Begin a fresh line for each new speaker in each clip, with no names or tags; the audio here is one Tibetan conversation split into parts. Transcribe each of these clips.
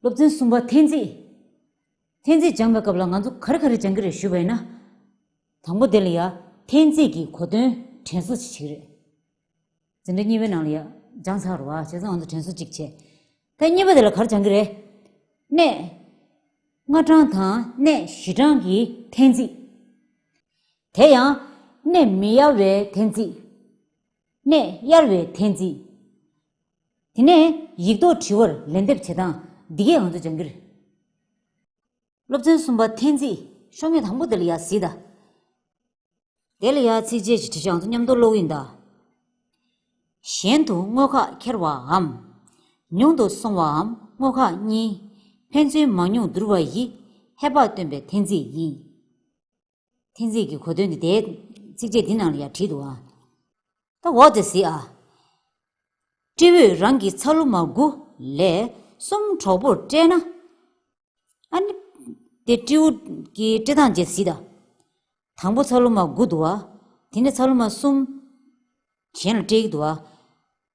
སློབ་ཚན་གསུམ་པ་ཐེན་ཙི། ཐེན་ཙི་སྦྱངས་པའི་སྐབས་ལ་ང་ཚོ་ག་རེ་ག་རེ་སྦྱང་གི་རེད་ཞུས་པ་ཡིན་ན། དང་པོ་དེ་ལ་ཡ། ཐེན་ཙི་གི་གོ་དོན་དྲན་གསོ་བྱེད་ཅིག་རེད། འཛིན་གྲྭ་གཉིས་པའི་ནང་ལ་ཡ། སྦྱང་ཚར་བ་བྱས་ཚར་ང་ཚོ་དྲན་གསོ་གཅིག་བྱས། ཐེན་གཉིས་པ་དེ་ལ་ག་རེ་སྦྱང་གི་རེད། གནས། ལྔ་གྲངས་དང་གནས་བཞི་གྲངས་ཀྱི་ཐེན་ཙི། དེ་ཡང། གནས་མི་གཡར་བའི་ཐེན་ཙི། གནས་གཡར་བའི་ཐེན་ཙི། དེ་ནས་ཡིག་ཐོག་དྲི་བར་ལན་འདེབས་བྱེད་སྟངས་འདི་གས་ང་ཚོ་སྦྱང་གི་རེད། སློབ་ཚན་གསུམ་པ་ཐེངས་རྩིས་ཤོག་ངོས་དང་པོ་དེ་ལ་ཡག་གཟིགས་དང། དེ་ལ་ཡག་ཚིགས་བཅད་ཀྱི་དྲི་བཞག་ང་ཚོ་མཉམ་དུ་ཀློག་གི་ཡིན་དང། གཞན་དུ་དངོས་ཁག་འཁྱེར་བའམ། ཉུང་དུ་སོང་བའམ་དངོས་ཁག་གཉིས། ཕན་ཚུན་མང་ཉུང་བསྡུར་བ་ཡིས་ཧེ་བག་སྟོན་པའི་ཐེངས་རྩིས་ཡིན། ཐེངས་རེ་གི་གོ་དོན་འདི་དེའི་ཚིགས་བཅད་འདི་རྣམས་ལ་ཡང་བྲིས་འདུག་ཨ། ད་འོག་དེ་གཟིགས་ཨ། སྤྲེ་འོས་རང་གི་ཚ་ལུ་མ་དགུ་ལས་གསུམ་གྲོགས་པོར་སྤྲད་ན། ཨ་ནི། དེ་སྤྲེའུ་སྐྱིའི་སྤྲེ་ཐང་རྗེས་གཟིགས་ད། དང་པོ་ཚ་ལུ་མ་དགུ་འདུག་ཨ། དེ་ནས་ཚ་ལུ་མ་གསུམ། གཞན་ལ་སྤྲེའུ་འདུག་ཨ།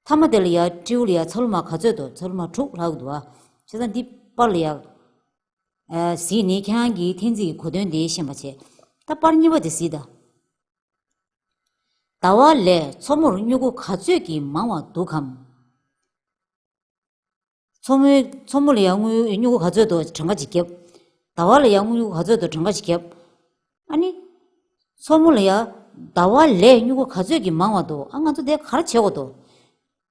མཐའ་མ་དེ་ལ་ཡང་སྤྲེའུ་ལ་ཡང་ཚ་ལུ་མ་ག་ཚོད་དོ་ཚ་ལུ་མ་དྲུག་ལྷག་འདུག་ཨ། བྱས་ཙང་འདི་པར་ལ་ཡང། གཟིགས་ནི་ཁྱེད་རང་གིས་ཐེངས་གཅིག་གི་གོ་དོན་དེ་ཤེས་པར་བྱས། ད་དཔར་གཉིས་པ་དེ་གཟིགས་དང། ཟླ་བ་ལས་མཚོ་མོར་སྨྱུ་གུ་ག་ཚོད་ཀྱིས་མང་བ་འདུག་གམ། མཚོ་མོའི་མཚོ་མོ་ལ་ཡང་སྨྱུ་གུ་ག་ཚོད་དུ་གྲངས་ཀ་ཅིག་བརྒྱབ། ཟླ་བ་ལ་ཡང་སྨྱུ་གུ་ག་ཚོད་དུ་གྲངས་ཀ་ཅིག་བརྒྱབ། ཨ་ནི། མཚོ་མོ་ལ་ཡང་ཟླ་བ་ལས་སྨྱུ་གུ་ག་ཚོད་ཀྱིས་མང་བ་འདུག་ཨ་ང་ཚོ་དེ་ག་རེ་བྱེད་དགོས་འདུག།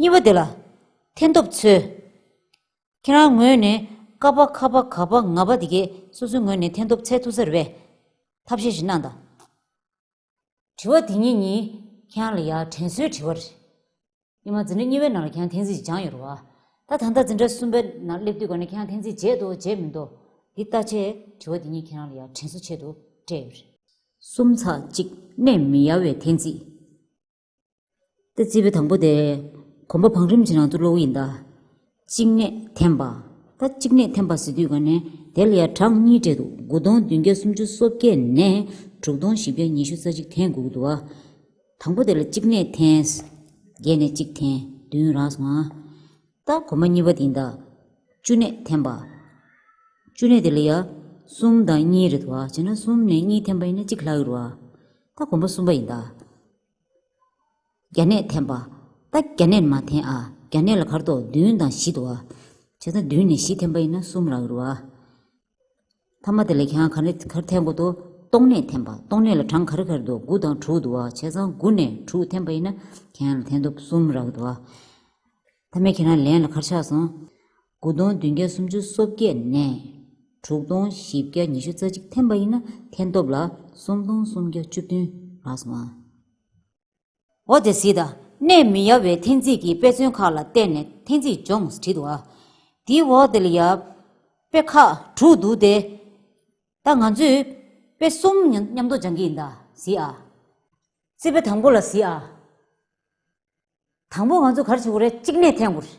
གཉིས་པ་དེ་ལ་ཐན་ཐོབ་འཚོལ། ཁྱེད་རང་ངོས་ནས་ཀ་པ་ཁ་པ་ག་པ་ང་པ་དེ་གས་སོ་སོའི་ངོས་ནས་ཐན་ཐོབ་འཚལ་ཐུབ་ས་རེད་པས། ཐབས་ཤེས་ཤིག་གནང་དང། དྲི་བ་དེ་གཉིས་ནི་ཁྱེད་རང་ལ་ཡ་དྲན་སོའི་དྲི་བ་རེད། ཨེ་མ་འཛིན་གྲྭ་གཉིས་པའི་ནང་ལ་ཁྱེད་རང་ཐན་ཚིག་སྦྱང་ཡོད་རེད་བ། ད་ད་ལྟ་འཛིན་གྲྭ་གསུམ་པའི་ནང་སླེབས་དུས་ག་ནས་ཁྱེད་རང་ཐན་ཚིག་བརྗེད་འདུག་བརྗེད་མི་འདུག་འདི་ལྟ་ཆེ། དྲི་བ་དེ་གཉིས་ཁྱེད་རང་ལ་ཡ་དྲན་སོ་ཆེད་དུ་སྤྲད་ཡོད་རེད། གསུམ་ཚགས་གཅིག་གནས་མི་ཡ་བའི་ཐན་ཚིག། རྩིས་པའི་དང་པོ་དེ། གོམ་པ་བང་རིམ་གྱི་ནང་དུ་གློག་ཡིན་དང། གཅིག་ནས་འཐེན་པ། ད་གཅིག་ནས་འཐེན་པ་ཟེར་དུས་ག་ནས་དེ་ལ་ཡང་གྲངས་གཉིས་སྤྲད་འདུག་དགུ་སྟོང་བདུན་བརྒྱ་སུམ་ཅུ་སོ་བརྒྱད་ནས་དྲུག་སྟོང་བཞི་བརྒྱ་ཉི་ཤུ་རྩ་གཅིག་འཐེན་དགུ་དུ་བ། དང་པོ་དེ་ལ་གཅིག་ནས་འཐེན། བརྒྱད་ནས་གཅིག་འཐེན་བདུན་རག་སོང་ང། ལྟ་གོང་མ་གཉིས་པ་དེ་འདྲ། བཅུ་གནས་ཐེམ་པ། བཅུ་གནས་དེ་ལ་ཡང། གསུམ་དང་གཉིས་རེད་དོ། བྱས་ན་གསུམ་ནས་གཉིས་ཐེམ་པ་ཡིན་ན་གཅིག་ལྷག་ཡོད་རོ། ལྟ་གོང་མ་གསུམ་པ་ཡིན་ད། བརྒྱ་གནས་ཐེམ་པ། ལྟ་བརྒྱ་གནས་ནི་མ་འཐེན་ཨ། བརྒྱ་གནས་ལ་གར་དོ་བདུན་དང་བཞི་དོ། བྱས་ན་བདུན་ནས་བཞི་ཐེམ་པ་ཡིན་ན་གསུམ་ལྷག་ཡོད་རོ། ཐ་མ་དེ་ལས་གྱང་ག་རེ་གར་འཐེན་དགོས་འདུག་སྟོང་སྣེ་འཐེན་པ་སྟོང་སྣེ་ལ་གྲངས་ག་རེ་གར་འདུག་དགུ་དང་དྲུག་འདུག་བྱས་ཙང་དགུ་ནས་དྲུག་འཐེན་པ་ཡིན་ན་གྱང་ལ་འཐེན་འདུག་གསུམ་རག་འདུག་ཐ་མའི་ཁྱེད་རང་ལན་ལ་གར་ཆགས་སོང། དགུ་སྟོང་བདུན་བརྒྱ་སུམ་ཅུ་སོ་བརྒྱད་ནས་དྲུག་སྟོང་བཞི་བརྒྱ་ཉི་ཤུ་རྩ་གཅིག་འཐེན་པ་ཡིན་ན་འཐེན་སྟོབས་ལ་གསུམ་སྟོང་སུམ་བརྒྱ་བཅུ་བདུན་རག་སོང་ཨ། ཨོ་དེ་སི་དང་གནས་མི་ཡབ་བའི་འཐེན་རྩིས་ཀྱི་དཔེ་མཚོན་ཁག་ལ་བརྟེན་ནས་འཐེན་རྩིས་སྦྱོངས་བྲིས་འདུག་དེའི་འོག་དེ་ལ་ཡབ་དཔེ་ཁག་དྲུག་འདུག་སྟེ། ད་ང་ཚོས་དཔེ་གསུམ་མཉམ་དུ་སྦྱང་གི་ཡིན་ད་སི་ཨ། རྩིས་དཔེ་དང་པོ་ལ་སི་ཨ། དང་པོ་ང་ཚོ་གར་བྱེད་དགོས་རེད་གཅིག་གནས་འཐེན་དགོས་རེད།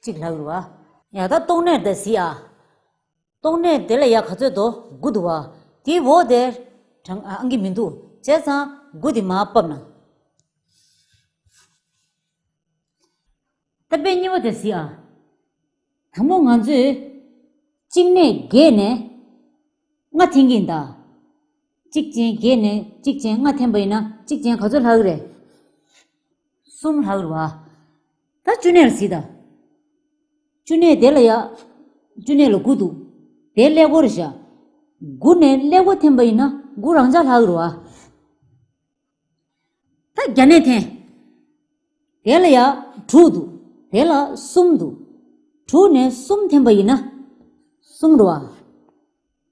གཅིག་ལྷ་བུར་བ། ཡང་དག་རྟོགས་ནས་དེ་གཟིགས་ཨ། རྟོགས་ནས་དེ་ལ་ཡང་ག་ཚོད་དོ་དགུ་འདུག་བ། དེའི་འོག་དེ། དྲང་ཨ་གི་མི་འདུག་བྱས་ཙང་དགུ་དེ་མ་བབས་ན། ཏེ་དཔེ་གཉིས་པོ་དེ་གཟིགས་ཨ། དང་པོ་ང་ཚོས། གཅིག་ནས་བརྒལ་ནས། ལྔ་འཐེན་གྱིན་གདའ། གཅིག་ཅན་བརྒྱད་ནས་གཅིག་ཅན་ལྔ་འཐེན་པ་ཡིན་ན་གཅིག་ཅན་ག་ཚོད་ལྷག་རེད། གསུམ་ལྷག་རེད་བ། ད་བཅུ་གནས་ལ་གཟིགས་དང། བཅུ་གནས་དེ་ལ་ཡག། བཅུ་གནས་ལ་དགུ་འདུག་དེ་ཀླད་ཀོར་རེད་བཞག། དགུ་ནས་ཀླད་ཀོར་འཐེན་པ་ཡིན་ན་དགུ་རང་འཇགས་ལྷག་རེད་བ། ད་བརྒྱ་གནས་འཐེན། དེ་ལ་ཡག་དྲུག་འདུག་དེ་ལ་གསུམ་འདུག་དྲུག་ནས་གསུམ་འཐེན་པ་ཡིན་ན་གསུམ་རེད་བ།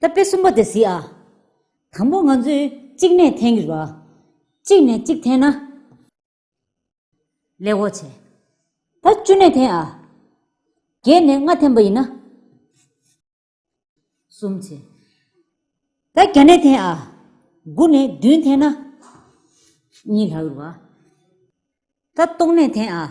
ད་དཔེ་གསུམ་པོ་དེ་གཟིགས་ཨ། དང་པོ་ང་ཚོས་གཅིག་ནས་འཐེན་གྱིས་པ། གཅིག་ནས་གཅིག་འཐེན་ན། ལེགས་འོ་བྱེད། ད་བཅུ་ནས་འཐེན་ཨ། བརྒྱད་ནས་ལྔ་འཐེན་པ་ཡིན་ན། གསུམ་བྱེད། ད་བརྒྱ་ནས་འཐེན་ཨ། དགུ་ནས་བདུན་འཐེན་ན། གཉིས་ལྷག་ཡོད་པ། ད་སྟོང་ནས་འཐེན་ཨ།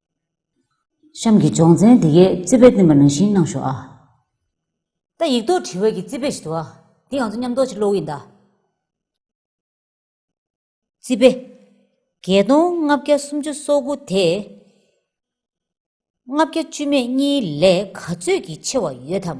གཤམ་གྱི་སྦྱོང་ཚན་འདི་གའི་རྩིས་དཔེ་བསྟན་པ་ནང་བཞིན་གནང་ཞོག་ཨ། ད་ཡིག་རྡོག་བྲི་བར་གྱི་རྩིས་དཔེ་ཞིག་འདུག་ཨ། འདི་ང་ཚོ་མཉམ་རྡོག་ཕྱིར་སློག་ཡིན་གདའ། རྩིས་དཔེ། བརྒྱད་སྟོང་ལྔ་བརྒྱ་སུམ་ཅུ་སོ་དགུ་དེ། ལྔ་བརྒྱ་བཅུ་མེད་གཉིས་ལས་ག་ཚོད་ཀྱིས་ཆེ་བ་ཡོད་དམ།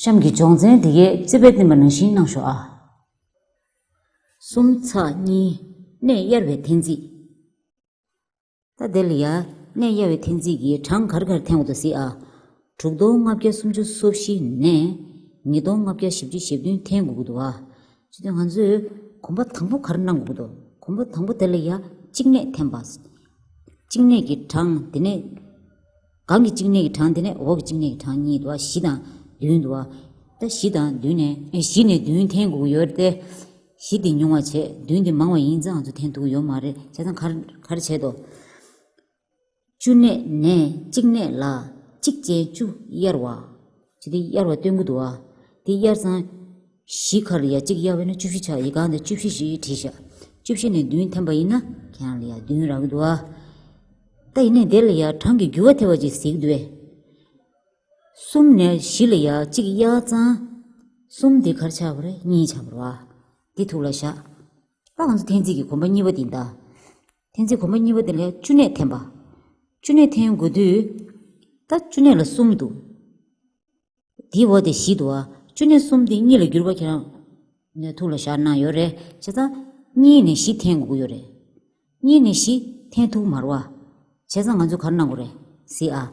གཤམ་གྱི་སྦྱོང་ཚན་འདི་གའི་རྩིས་པའི་བསྟན་པ་ནང་བཞིན་གནང་ཞོག་ཨ། གསུམ་ཚ་གཉིས། གནས་གཡར་བའི་འཐེན་རྩིས། ད་དེ་ལ་ཡ། གནས་གཡར་བའི་འཐེན་རྩིས་ཀྱི་གྲངས་གར་གར་འཐེན་བ་དུ་གཟིགས་ཨ། དྲུག་སྟོང་ལྔ་བརྒྱ་སུམ་ཅུ་སོ་བཞི་ནས། ཉིས་སྟོང་ལྔ་བརྒྱ་བཞི་བཅུ་ཞེ་བདུན་འཐེན་དགོས་ཀྱི་འདུག་ཨ། ཅི་སྟེ་ང་ཚོས་གོམ་པ་དང་པོ་གར་གནང་དགོས་ཀྱི་འདུག་གོམ་པ་དང་པོ་དེ་ལ་ཡ་གཅིག་གནས་འཐེན་པ། གཅིག་གནས་ཀྱི་གྲངས་དེ་ནས། གང་གི་གཅིག་ནད་ཀྱི་གྲངས་དེ་ནས་འོག་གི་གཅིག་ནད་ཀྱི་གྲངས་ཉིད་དུ་བ་བཞི་དང་བདུན་དུ་བ། ད་བཞི་དང་བདུན་ནས། བཞི་ནས་བདུན་ཐེངས་དགུ་ཡོད་དེ། བཞི་དེ་ཉུང་བར་བྱས་བདུན་དེ་མང་བ་ཡིན་ཙང་ཚུ་ཐེངས་དགུ་ཡོད་མ་རེད་བྱས་ཙང་གར་གར་བྱེད་དོ། བཅུ་ནས་ནས་གཅིག་ནད་ལ། གཅིག་ཅན་བཅུ་དབྱེར་བ། བྱས་ཏེ་དབྱར་བ་སྟོན་དགུ་འདུ་བ། དེ་དབྱར་ཚང། བཞི་ཁར་ཡ་གཅིག་དབྱར་བས་ན་བཅུ་བཞི་ཆགས་ཡིག་གང་དེ་བཅུ་བཞི་བཞི་ཡིག་བྲིས་བཞག། བཅུ་བཞི་ནས་བདུན་ཐེམ་པ་ཡིན་ན། ཁྱེད་རང་ལ་ཡ་བདུན་རག་འདུ་བ། ད་ཡིན་ནས་དེ་ལ་ཡ་གྲངས་ཀྱི་རྒྱུ་བ་ཐེ་བ་གཅིག་གཟིགས་འདུ་བས། གསུམ་ནས་བཞི་ལ་ཡ་གཅིག་དབྱར་ཚང། གསུམ་དེ་གར་ཆགས་པར་གཉིས་ཆགས་པར་བ། དེ་ཐུགས་ལ་བཞག། ད་ང་ཚོ་ཐེངས་རྩིས་ཀྱི་གོམ་པ་གཉིས་པ་འདི་ཟླ། ཐེན་ཚིག་གོང་མ་གཉིས་པ་དེ་ལས་བཅུ་སྣོད་ཐེན་པ། བཅུ་སྣོད་ཐེན་དགོས་དུས། ད་བཅུ་སྣོད་ལ་གསུམ་འདུག། དེའི་འོག་དེ་བཞི་འདུག་ཨ། བཅུ་སྣོད་གསུམ་དེ་གཉིས་ལ་བསྒྱུར་བ་ཁྱེད་རང། ནས་ཐུགས་ལ་བཞག་གནང་ཡོད་རེད། བྱས་ཙང། གཉིས་ནས་བཞི་ཐེན་དགོས་ཀྱི་ཡོད་རེད། གཉིས་ནས་བཞི་ཐེན་ཐུགས་མར་བ། བྱས་ཙང་ང་ཚོས་གར་གནང་དགོས་རེད། སྲིད་ཨ།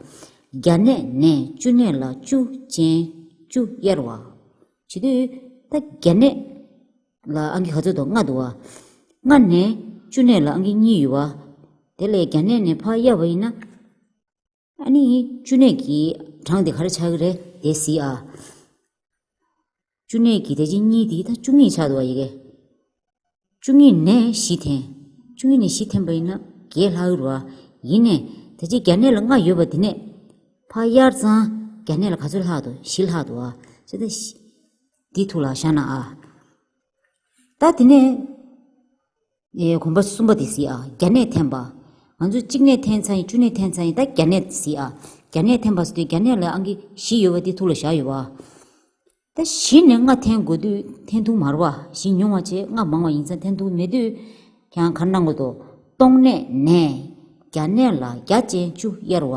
བརྒྱ་སྣོད་ནས་བཅུ་སྣོད་ལ་བཅུ་ཅན། བཅུ་དབྱེར་བ། བྱེད་དུས། ད་བརྒྱ་སྣོད། ལ་ཨང་ཀི་ག་ཚོད་དུ་ལྔ་འདུག་བ། ལྔ་ནས་བཅུ་གནས་ལ་ཨང་ཀི་གཉིས་ཡོད་བ། དེ་ལས་གྱ་གནས་ནས་ཕག་གཡས་བ་ཡིན་ན། ཨ་ནི་བཅུ་གནས་ཀྱི་གྲངས་དེ་ག་རེ་ཆགས་ཀྱི་རེད་དེ་གཟིགས་ཨ། བཅུ་གནས་ཀྱི་དེ་ཕྱིན་གཉིས་དེ་ད་བཅུ་གཉིས་ཆགས་འདུག་བ་ཡི་གེ། བཅུ་གཉིས་ནས་བཞི་འཐེན། བཅུ་གཉིས་ནས་བཞི་འཐེན་པ་ཡིན་ན་བརྒྱད་ལྷག་ཡོད་བ། ཡིན་ནས་དེ་ཕྱིན་གྱ་གནས་ལ་ལྔ་ཡོད་བ་དེ་ནས་ཕག་གཡར་ཚང་གྱ་གནས་ལ་ག་ཚོད་ལྷག་འདུག་བཞི་ལྷག་འདུག་བ། བཞི་ནས། འདི་ཐུགས་ལ་བཞག་ན་ཨ། ད་དེ་ནས། གོམ་པ་གསུམ་པ་དེ་སྲིད་ཨ་བརྒྱ་གནས་འཐེན་པ། ང་ཚོ་གཅིག་གནས་འཐེན་ཚར་ཡིན་བཅུ་གནས་འཐེན་ཚར་ཡིན་ད་བརྒྱ་གནས་དེ་སྲིད་ཨ། བརྒྱ་གནས་འཐེན་པ་སོ་དེ་བརྒྱ་གནས་ལ་ཨང་ཀི་བཞི་ཡོད་པ་དེ་ཐུགས་ལ་བཞག་ཡོད་པ། ད་བཞི་ནས་ལྔ་འཐེན་དགོས་དུས་འཐེན་ཐུགས་མར་བ་བཞི་ཉུང་བ་ཆེ་ལྔ་མང་བ་ཡིན་ཚ་འཐེན་ཐུགས་མེད་དུས། ཁྱང་གར་གནང་དགོས་དོ། སྟོང་གནས་ནས། བརྒྱ་གནས་ལ་བརྒྱ་ཅན་བཅུ་དབྱར་བ།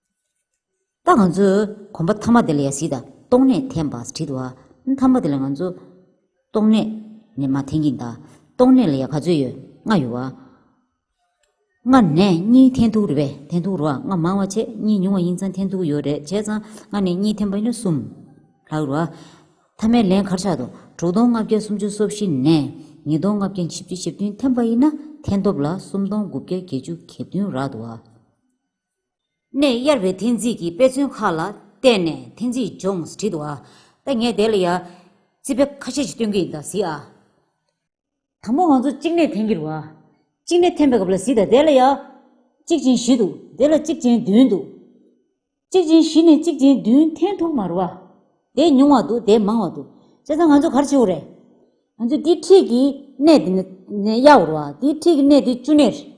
ད་ང་ཚོས་གོམ་པ་མཐའ་མ་དེ་ལ་ཡ་གཟིགས་དང་སྟོང་གནས་འཐེན་པ་བྲིས་འདུག་མཐའ་མ་དེ་ལ་ང་ཚོས་སྟོང་གནས་ནས་མ་འཐེན་གྱིན་གདའ། སྟོང་གནས་ལ་ཡ་ག་ཚོད་ཡོད་ལྔ་ཡོད། ལྔ་ནས་གཉིས་འཐེན་ཐུག་རེད་པས་འཐེན་ཐུག་རོགས་ཨ་ལྔ་མང་བ་བྱས་གཉིས་ཉུང་བ་ཡིན་ཙང་འཐེན་ཐུག་ཡོད་རེད་བྱས་ཙང་ལྔ་ནས་གཉིས་འཐེན་པ་ཡིན་ན་གསུམ་ལྷག་རོགས་ཨ། མཐའ་མའི་ལན་གར་ཆག་འདུག་དྲུག་སྟོང་ལྔ་བརྒྱ་སུམ་ཅུ་སོ་བཞི་ནས་ཉིས་སྟོང་ལྔ་བརྒྱ་བཞི་བཅུ་ཞེ་བདུན་འཐེན་པ་ཡིན་ན་འཐེན་སྟོབས་ལ་སུམ་སྟོང་དགུ་བརྒྱ་བརྒྱད་ཅུ་གྱ་བདུན་རག་འདུག་ཨ། ནས་གཡར་བའི་འཐེན་རྩིས་ཀྱི་དཔེ་མཚོན་ཁག་ལ་བལྟས་ནས་འཐེན་རྩིས་སྦྱོངས་བྲིས་འདུག་ཨ། ད་ངས་དེ་ལ་ཡང་རྩིས་དཔེ་ཁ་ཤས་ཤིག་སྟོན་གྱི་ཡིན་ད་གཟིགས་ཨ། དང་པོ་ང་ཚོ་གཅིག་ནས་འཐེན་གྱིར་བ། གཅིག་ནས་འཐེན་པའི་སྐབས་ལ་གཟིགས་ད་དེ་ལ་ཡང། གཅིག་ཅན་བཞི་འདུག་དེ་ལ་གཅིག་ཅན་བདུན་འདུག། གཅིག་ཅན་བཞི་ནས་གཅིག་ཅན་བདུན་འཐེན་ཐུབ་མ་རུང་བ། དེ་ཉུང་བ་འདུག་དེ་མང་བ་འདུག་བྱས་ཙང་ང་ཚོ་གར་ཆེའོ་རེད། ང་ཚོས་དེའི་འཁྲིས་ཀྱི་གནས་དེ་ནས་གཡར་བར་བ། དེའི་འཁྲིས་ཀྱི་གནས་དེ་བཅུ་གནས་རེད།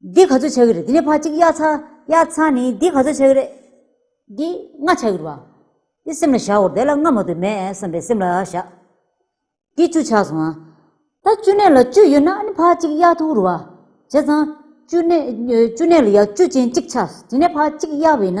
འདི་ག་ཚོད་བྱ་གི་རེད་དེ་ནས་ཕ་གཅིག་གཡག་ཚ་གཡག་ཚ་ནི་འདི་ག་ཚོད་བྱ་གི་རེད། འདི་ང་བྱ་གི་རེད་བ། དེ་སེམས་ལ་བཞག་འོ་དེ་ལ་ང་མ་ཏུ་མེད་བསམ་པའི་སེམས་ལ་བཞག། འདི་བཅུ་ཆགས་སོང་ང། ད་བཅུ་གནས་ལ་བཅུ་ཡོད་ན་ཕ་གཅིག་གཡག་ཐུག་རེད་བ། བྱས་ཙང་བཅུ་གནས་ལ་ཡག་བཅུ་ཅན་གཅིག་ཆགས་དེ་ནས་ཕ་གཅིག་གཡག་བས་ན།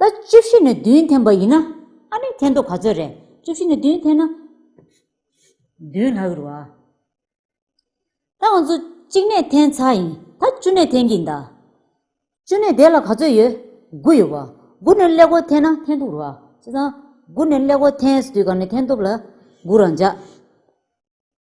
ད་བཅུ་བཞི་ནས་བདུན་འཐེན་པ་ཡིན་ན། ཨ་ནི་འཐེན་ཐོ་ག་ཚོད་རེད། བཅུ་བཞི་ནས་བདུན་འཐེན་ན། བདུན་ལྷག་རེད་བ། ད་ང་ཚོ་གཅིག་ནས་འཐེན་ཚར་ཡིན་ད་བཅུ་ནས་འཐེན་གྱིན་གདའ། བཅུ་ནས་བདེ་ལ་ག་ཚོད་ཡོད། དགུ་ཡོད་བ། དགུ་ནས་ཀླད་ཀོར་འཐེན་ན་འཐེན་ཐུབ་རེད་བ། བྱས་ཙང། དགུ་ནས་ཀླད་ཀོར་འཐེན་སྲིད་དུས་ག་ནས་འཐེན་ཐུབ་ལ། དགུ་རང་འཇགས།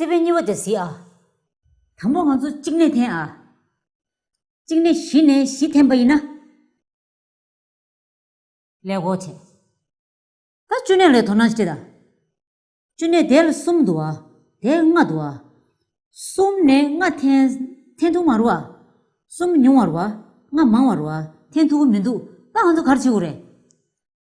བརྩེ་བའི་སྙི་བ་དེ་གཟིགས་ཨ། དང་པོ་ང་ཚོ་གཅིག་ནས་འཐེན་ཨ། གཅིག་ནས་གཞི་ནས་གཞི་འཐེན་པ་ཡིན་ན། ལས་སྒོ་བྱས། ད་བཅུ་གནས་ལས་དོ་སྣང་བྱེད་ཨ། བཅུ་གནས་དེ་ལ་གསུམ་འདུག་ཨ། དེ་ལྔ་འདུག་ཨ། གསུམ་ནས་ལྔ་འཐེན། འཐེན་ཐུབ་མ་རུ་ཨ། གསུམ་ཉུང་བ་རུ་ཨ། ལྔ་མང་བ་རུ་ཨ། འཐེན་ཐུབ་ཀི་མི་འདུག་ད་ང་ཚོ་གར་བྱེད་དགོས་རེད།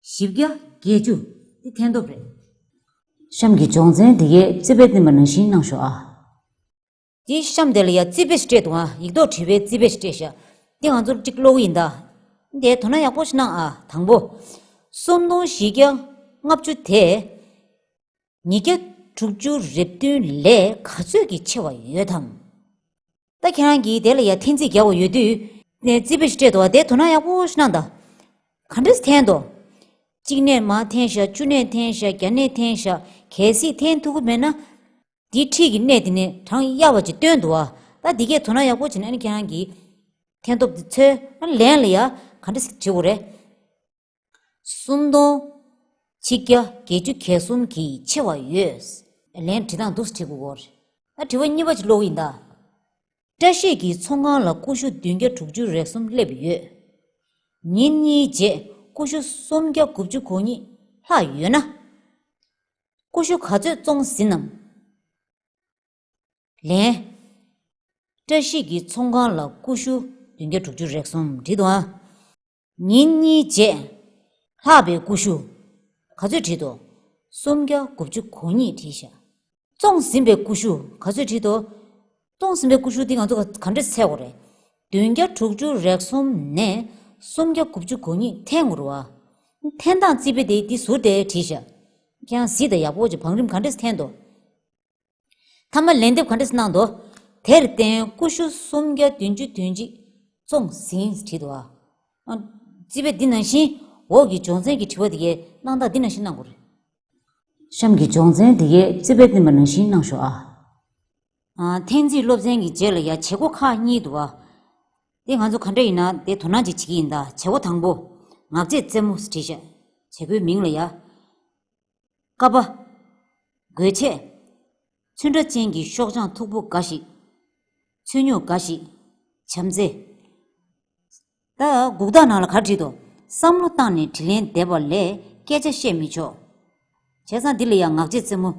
བཞི་བརྒྱ་བརྒྱད་ཅུ་འདི་ཐན་ཐོབ་རེད། གཤམ་གྱི་སྦྱོང་ཚན་འདི་གའི་རྩིས་དཔེ་བསྟན་པ་ནང་བཞིན་གནང་ཞོག་ཨ། འདི་གཤམ་དེ་ལ་ཡང་རྩིས་དཔེ་ཞིག་སྤྲད་འདུག་ཨ་ཡིག་ཐོག་བྲིས་པའི་རྩིས་དཔེ་ཞིག་སྤྲད་ཞག་འདི་ང་ཚོར་གཅིག་བློ་འུ་ཡིན་ད། འདའི་དོ་སྣང་ཡག་པོ་ཞིག་གནང་ཨ་དང་པོ། སུམ་སྟོང་བཞི་བརྒྱ་ལྔ་བཅུ་དེ། ཉིས་བརྒྱ་དྲུག་ཅུ་རེ་བདུན་ལས་ག་ཚོད་ཀྱིས་ཆེ་བ་ཡོད་དམ། ད་ཁྱེད་རང་གིས་དེ་ལ་ཡ་ཐེན་ཚིག་རྒྱག་བ་ཡོད་དུས། ནས་རྩིས་པ་ཞིག་སྤྲད་འདུག་བ་དེ་དོ་སྣང་ཡག་པོ་ཞིག་གནང་དང། ག་འདྲ་ཐེན་དོ། གཅིག་ནས་མ་ཐེན་ཤག་བཅུ་ནས་ཐེན་ཤག་བརྒྱ་ནས་ཐེན་ཤག་གལ་སྲིད་ཐེན་ཐུབ་ཀི་མེད་ན། འདིའི་འཁྲིས་ཀྱི་གནས་དེ་ནས་གྲངས་གཡར་བ་ཅིག་བཏོན་འདུག་བ་ད་འདི་གས་དོ་སྣང་ཡག་པོ་བྱེད་ན་ཨ་ནི་ཁྱེད་རང་གིས་ཐེན་སྟོབས་དེ་ཚོད་ལན་ལ་ཡ་ག་འདྲ་ཞིག་བྱེད་དགོས་རེད། སུམ་སྟོང། ཆིག་བརྒྱ་བརྒྱད་ཅུ་གྱ་གསུམ་གྱིས་ཕྱེ་བ་ཡོད། ལན། བྲིས་དང་འདུག་ཟེར་གྱི་འོར། ཨ་བྲིས་བ་གཉིས་པ་ཅིག་ཀློག་ཡིན་ད། བཀྲ་ཤིས་ཀྱི་ཚོང་ཁང་ལ་ཀུ་ཤུ་བདུན་བརྒྱ་དྲུག་ཅུ་རེ་གསུམ་སླེབས་ཡོད། ཉིན་གཉིས་རྗེས་ཀུ་ཤུ་སུམ་བརྒྱ་དགུ་བཅུ་གོ་གཉིས་ལྷག་ཡོད་ན། ཀུ་ཤུ་ག་ཚོད་བཙོང་ཟིན་ནམ། ལན། བཀྲ་ཤིས་ཀྱི་ཚོང་ཁང་ལ་ཀུ་ཤུ་བདུན་བརྒྱ་དྲུག་ཅུ་རེ་གསུམ་བྲིས་འདུག་ཨ། ཉིན་གཉིས་རྗེས། ལྷག་པའི་ཀུ་ཤུ། ག་ཚོད་བྲིས་ཏོ། སུམ་བརྒྱ་དགུ་བཅུ་གོ་གཉིས་བྲིས་ཤག། བཙོངས་ཟིན་པའི་ཀུ་ཤུ་ག་ཚོད་བྲིས་ཏོ། བཙོངས་ཟིན་པའི་ཀུ་ཤུ་འདི་ང་ཚོ་ག་འདྲས་ཚད་གོ་རེད། བདུན་བརྒྱ་དྲུག་ཅུ་རེག་གསུམ་ནས་སུམ་བརྒྱ་དགུ་བཅུ་གོ་གཉིས་ཐེངས་ངོ་རུ་བ། འཐེན་སྟངས་རྩིས་པས་དེ་འདི་ཟུར་དེ་བྲིས་ཤག། ཁྱེད་རང་གཟིགས་དང་ཡག་པོ་བྱོས་བང་རིམ་ག་འདྲས་འཐེན་ཏོ། ཐ་མ་ལན་འདེབས་ག་འདྲ་སེ་གནང་འདུག། དེར་བརྟེན་ཀུ་ཤུ་སུམ་བརྒྱ་བདུན་ཅུ་དོན་གཅིག་བཙོང་ཟིན་བྲིས་འདུག་ཨ། རྩིས་པས་འདི་ནང་བཞིན་འོག་གི་སྦྱོང་ཚན་གྱི་དྲི་བ་དེ་གའི་གནང་སྟངས་འདི་ནང་བཞིན་གནང་དགོས། གཤམ་གྱི་སྦྱོང་ཚན་དེ་གའི་རྩིས་པས་བསྟན་པ་ནང་བཞིན་གནང་ཞོག་ཨ། ཐེངས་རྩིས་སློབ་ཚན་གྱི་རྗེས་ལ་ཡང་བྱེད་སྒོ་ཁག་གཉིས་འདུག་ཨ། དེ་ང་ཚོ་ག་འདྲ་ཡིན་ན་དེ་དོ་སྣང་ཅིག་བྱེད་ཀྱི་ཡིན་ད་བྱེད་སྒོ་དང་པོ། ངག་བཅད་རྩེ་མོ་ཟེར་བྲིས་བྱ། བྱེད་སྒོའི་མིང་ལ་ཡ། ཀ་པ། གོས་ཆས། ཚོན་ཁྲ་ཅན་གྱི་ཤོག་བྱང་མཐུག་པོ་འགའ་ཞིག། ཚོན་སྨྱུག་འགའ་ཞིག། བྱམས་བརྩེ། ད་གུག་རྟགས་ནང་ལ་གར་བྲིས་འདུག་བསམ་བློ་བཏང་ནས་དྲི་ལན་འདེབས་པ་ལས་སྐད་ཆ་བཤད་མི་ཆོག། བྱས་ཙང་འདི་ལ་ཡང་ངག་རྗེས་རྩེ་མོ།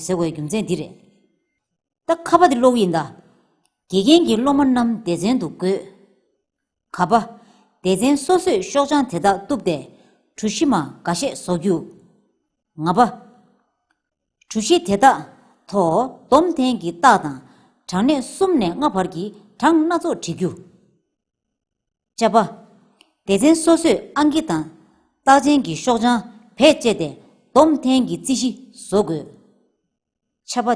ཟེར་བའི་རྒྱུ་མཚན་འདི་རེད། ད་ཁ་པ་འདི་ཀློག་ཡིན་ད། དགེ་རྒན་གྱིས་སློབ་མ་རྣམས་སྡེ་ཚན་དུ་བགོས། ག་པ། སྡེ་ཚན་སོ་སོས་ཤོག་བྱང་དེ་དག་བཏུབ་སྟེ། གྲུ་བཞི་མ་འགའ་ཤས་བཟོ་རྒྱུ། ང་པ། གྲུ་བཞི་དེ་དག་ཐོ་བསྡོམས་ཐེངས་ཀྱི་རྟགས་དང་གྲངས་གནས་གསུམ་ནས་ལྔ་བར་གྱི་གྲངས་སྣ་ཚོགས་བྲི་རྒྱུ། བཅའ་པ། སྡེ་ཚན་སོ་སོས་ཨང་ཀི་དང་རྟགས་ཅན་གྱི་ཤོག་བྱང་བེད་སྤྱད་དེ་བསྡོམས་ཐེངས་ཀྱི་རྩིས་གཞི་བཟོ་དགོས། ཆབ་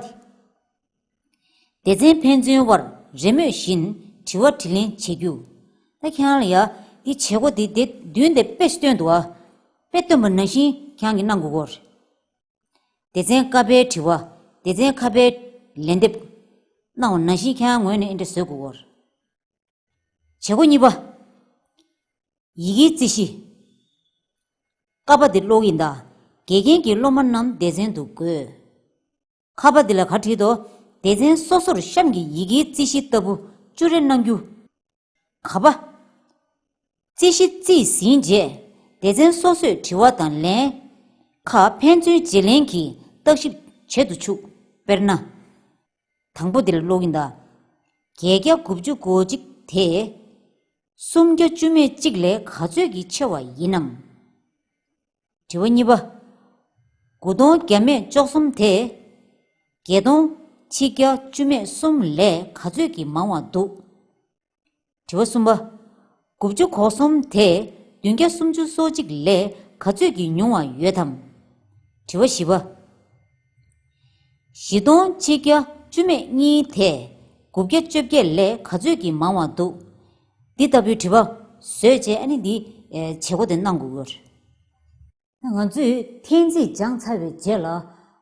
པ། སྡེ་ཚན་ཕན་ཚུན་དབར་རེས་མོས་བཞིན་དྲི་བ་དྲི་ལན་བྱེད་རྒྱུ། ད་ཁྱང་ལ་ཡ། འདི་བྱེད་སྒོ་འདི་དེ་བདུན་དེ་དཔེ་སྟོན་འདུག་ཨ། དཔེ་སྟོན་པ་ནང་བཞིན་ཁྱང་གིས་གནང་དགོས་སྐོར། སྡེ་ཚན་ཀ་པའི་དྲི་བ། སྡེ་ཚན་ཁ་པའི་ལན་འདེབས། གནང་བ་ནང་བཞིན་ཁྱང་ངོས་ནས་ཨིན་དྲ་བཟོས་དགོས་སྐོར། བྱེད་སྒོ་གཉིས་པ། ཡི་གེའི་རྩིས་གཞི། ཀ་པ་འདི་ཀློག་ཡིན་ད། དགེ་རྒན་གྱིས་སློབ་མ་རྣམས་སྡེ་ཚན་དུ་བགོས། ཁ་པ་འདི་ལ་གར་བྲིས་ཏོ། སྡེ་ཚན་སོ་སོར་གཤམ་གྱི་ཡི་གེའི་རྩིས་གཞི་ལྟ་བུ་བཅུ་རེ་གནང་རྒྱུ། ག་པ། རྩིས་གཞི་རྩིས་ཟིན་རྗེས་སྡེ་ཚན་སོ་སོས་དྲི་བ་དང་ལན། ཁ་ཕན་ཚུན་བརྗེ་ལེན་གྱིས་བརྟག་ཞིབ་བྱེད་དུ་ཆུག་དཔེར་ན། དང་པོ་འདི་ལ་ཀློག་ཡིན་ད། བརྒྱད་བརྒྱ་དགུ་བཅུ་གོ་གཅིག་དེ། སུམ་བརྒྱ་བཅུ་མེད་གཅིག་ལས་ག་ཚོད་ཀྱིས་ཆེ་བ་ཡིན་ནམ། དྲི་བ་གཉིས་པ། དགུ་སྟོང་བརྒྱ་མེད་བཅོ་གསུམ་དེ། བརྒྱད་སྟོང་ཆིག་བརྒྱ་བཅུ་མེད་གསུམ་ལས་ག་ཚོད་ཀྱིས་མང་བ་འདུག། དྲི་བ་གསུམ་པ། དགུ་བཅུ་གོ་གསུམ་དེ་བདུན་བརྒྱ་སུམ་ཅུ་སོ་གཅིག་ལས་ག་ཚོད་ཀྱིས་ཉུང་བ་ཡོད་དམ། དྲི་བ་བཞི་པ། བཞི་སྟོང་ཆིག་བརྒྱ་བཅུ་མེད་གཉིས་དེས་དགུ་བརྒྱ་བཅོ་བརྒྱད་ལས་ག་ཚོད་ཀྱིས་མང་བ་འདུག་འདི་ལྟ་བུའི་དྲི་བ་བཟོས་རྗེས་ཨ་ནི་འདིའི་བྱེད་སྒོ་དེ་གནང་དགོས་ཀྱི་རེད། ང་ཚོས་ཐེངས་རྩིས་སྦྱངས་ཚར་བའི་རྗེས་ལ་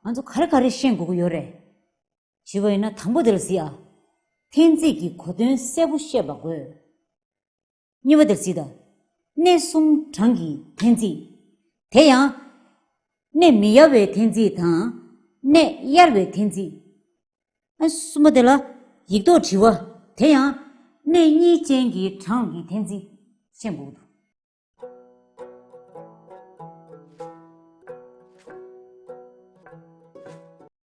ང་ཚོ་ག་རེ་ག་རེ་ཤེས་དགོས་ཀྱི་ཡོད་རེད། ཞུས་པ་ཡིན་ན་དང་པོ་དེ་ལ་གཟིགས་ཨ། ཐེངས་རྩིས་ཀྱི་གོ་དོན་གསལ་པོ་ཤེས་པ་དགོས། གཉིས་པ་དེར་བརྩིས་དང། གནས་གསུམ་གྲངས་ཀྱི་ཐེན་ཚིག། དེ་ཡང། གནས་མི་ཡར་བའི་ཐེན་ཚིག་དང། གནས་གཡར་བའི་ཐེན་ཚིག། གསུམ་པ་དེ་ལ། ཡིག་ཐོག་བྲི་བ། དེ་ཡང། གནས་གཉིས་ཅན་གྱི་གྲངས་ཀྱི་ཐེན་ཚིག། ཤེས་འགོག་ཏུ།